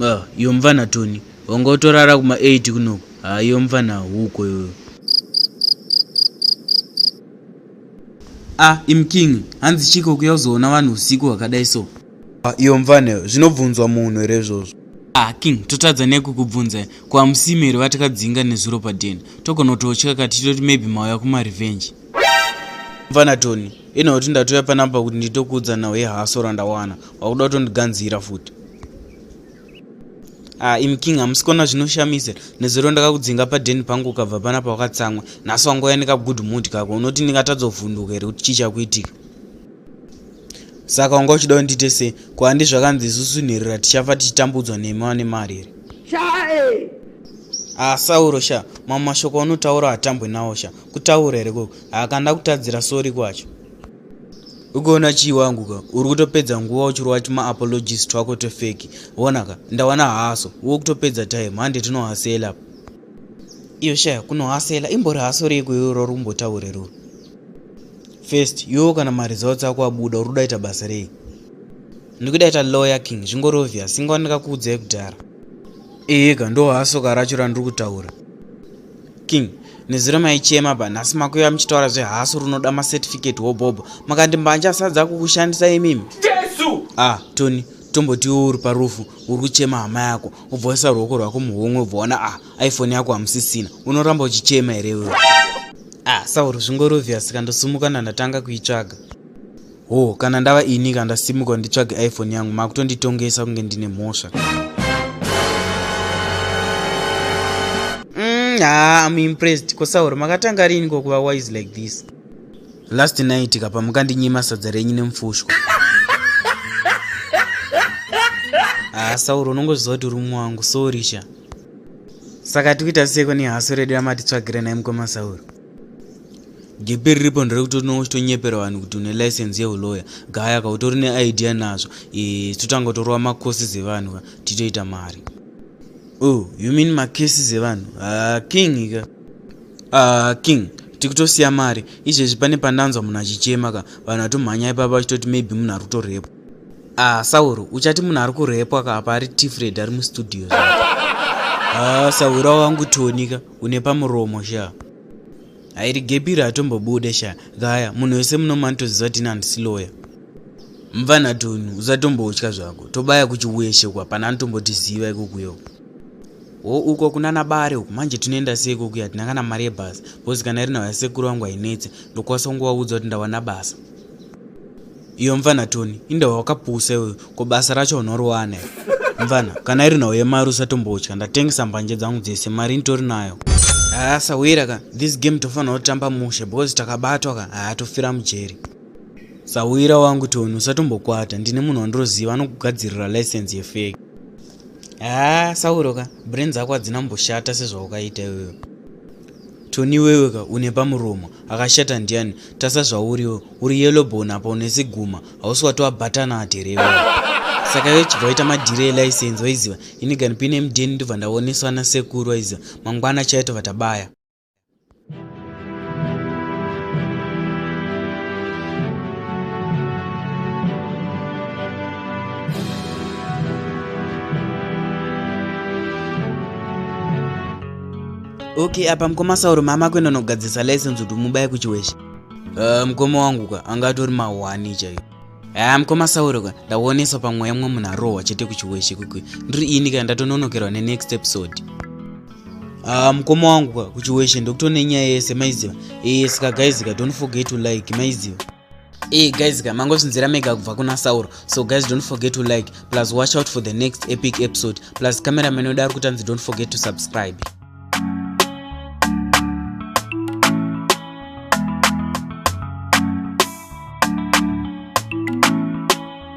Ah, iyo mvana toni wanga utorara kuma 8 kunoku haa ah, iyo mvana huko iyoyo a ah, imking hanzi chiko kuya uzoona vanhu usiku hwakadai so Ah, iyo mvane zvinobvunzwa munhu here izvozvo ah king totadza nekukubvunza ko hamusimi here vatakadzinga nezuro padeni togona kutotya kati titoti maybe mauya kumarevenge mvana tony ino kuti ndatoya panapa kuti nditokuudza nhau yehaso randawana wakuda kutondiganzira futi ah im king hamusi kuona zvinoshamisa nezuro ndakakudzinga padeni pangu ukabva panapa wakatsamwa nhasi wangouya nekagood mood kako unoti ndingatadzovhunduka here kuti chii chakuitika saka wanga uchida undite sei ko handi zvakanzi isusu nherera tichafa tichitambudzwa nemi vane mari here chae ah sauro sha mamwe mashoko aunotaura hatambwe nawo sha kutaura here koko haakanda kutadzira sori kwacho ukaona chii wangu ka uri kutopedza nguva uchirova timaapologist twako tofeki vonaka ndawana haso wo kutopedza time hande tinohasela iyo shaya kunohasela imbori haso reiko iroro rumbotaure ruri first iwewo kana maresults ako abuda uri kudaita basa rei ndikudaita lawyer king zvingori obvious inga wandakakuudzai kudhara iyeka ndo hasoka racho randiri kutaura king nezuro maichema ba nhasi makuiva muchitaura zvehaso runoda macertificate hobhobho makandimbanje asadza kukushandisa imimi jesu ah tony tombotiwo uri parufu uri kuchema hama yako ubvoisa ruoko rwako muhomwe ubvoona ah iphone yako hamusisina unoramba uchichema here wewe ah sauro zvingori obvious ka ndosumuka ndandatanga kuitsvaga ho oh, kana ndava ini ka ndasimuka nditsvage iphone yangu makutonditongesa kunge ndine mhosva mm, ha ah, im impressed ko sauro makatanga riini kokuva wise like this last night ka pamukandinyima sadza renyu nemufushwa ha ah, sauro unongozviziva kuti uri mumwe wangu sorisha saka tikuita seko nehaso redu ramatitsvagire nai mukoma sauro gepe riripo nderekuti unenge uchitonyepera vanhu kuti une license yeuloya gaya ka utori neidea nazvo e, totanga kutorova macourses evanhu ka titoita mari oh you mean macases evanhu ah, king ka ah, king tikutosiya mari izvezvi pane pandanzwa munhu achichema ka vanhu vatomhanya ipapa vachitoti maybe munhu ari kutorepo Ah, Sauro, uchati munhu ari kurepwa ka apa ari Tifred ari mustudio. Ah, Sauro wangu tonika, une pamuromo sha. Airi gebiri atombobude sha. Gaya, munhu wese muno manitoziva tini handisi lawyer. Mvana Tonu, usatombotya zvako. Tobaya kuchiweshe kwa pana anotombotiziva ikokuyo. Wo uko kuna nabare uko manje tinoenda sei kokuya tina kana mari yebhasi. Bozi kana iri nawo yasekuru wangu hainetse. Ndokwasa kungowaudza kuti ndawana basa. iyo mvana toni inde wakapusa iwe ko basa racho unoriwana mvana kana iri nhau yemari usatombotya ndatengesa mbanje dzangu dzese mari nditori nayo haa sahwira ka this game tofanira kutamba mushe because takabatwa ka haa tofira mujeri sahwira wangu toni usatombokwata ndine munhu wandiroziva anokugadzirira license yefeki haa sahwiro ka brain dzako hadzina mboshata sezvaukaita iweyo Tony weweka une pamuromo akashata ndiani tasa zvauriwe uri yellow bone apa une siguma hausi watoabatana aterewa saka iwe chibva waita madhiri elicense waiziva ini gani pine mdeni ndobva ndaoneswa nasekuru waiziva mangwana chaito vatabaya okay apa mukoma sauro mama kuenda nogadzirisa license kuti mubaye kuchiweshe uh, mukoma wangu ka anga atori mahwani chaiyo haa uh, mukoma sauro ka ndaoneswa pamweya mumwe munhu arohwa chete kuchiweshe kwekwe ndiri ini ka ndatononokerwa nenext episode haa uh, mukoma wangu ka kuchiweshe ndokutone nyaya yese maiziva ee eh, saka guys ka don't forget to like maiziva Hey eh, guys ka mangozvinzira mega kubva kuna sauro so guys don't forget to like plus watch out for the next epic episode plus cameraman wedu ari kutanzi don't forget to subscribe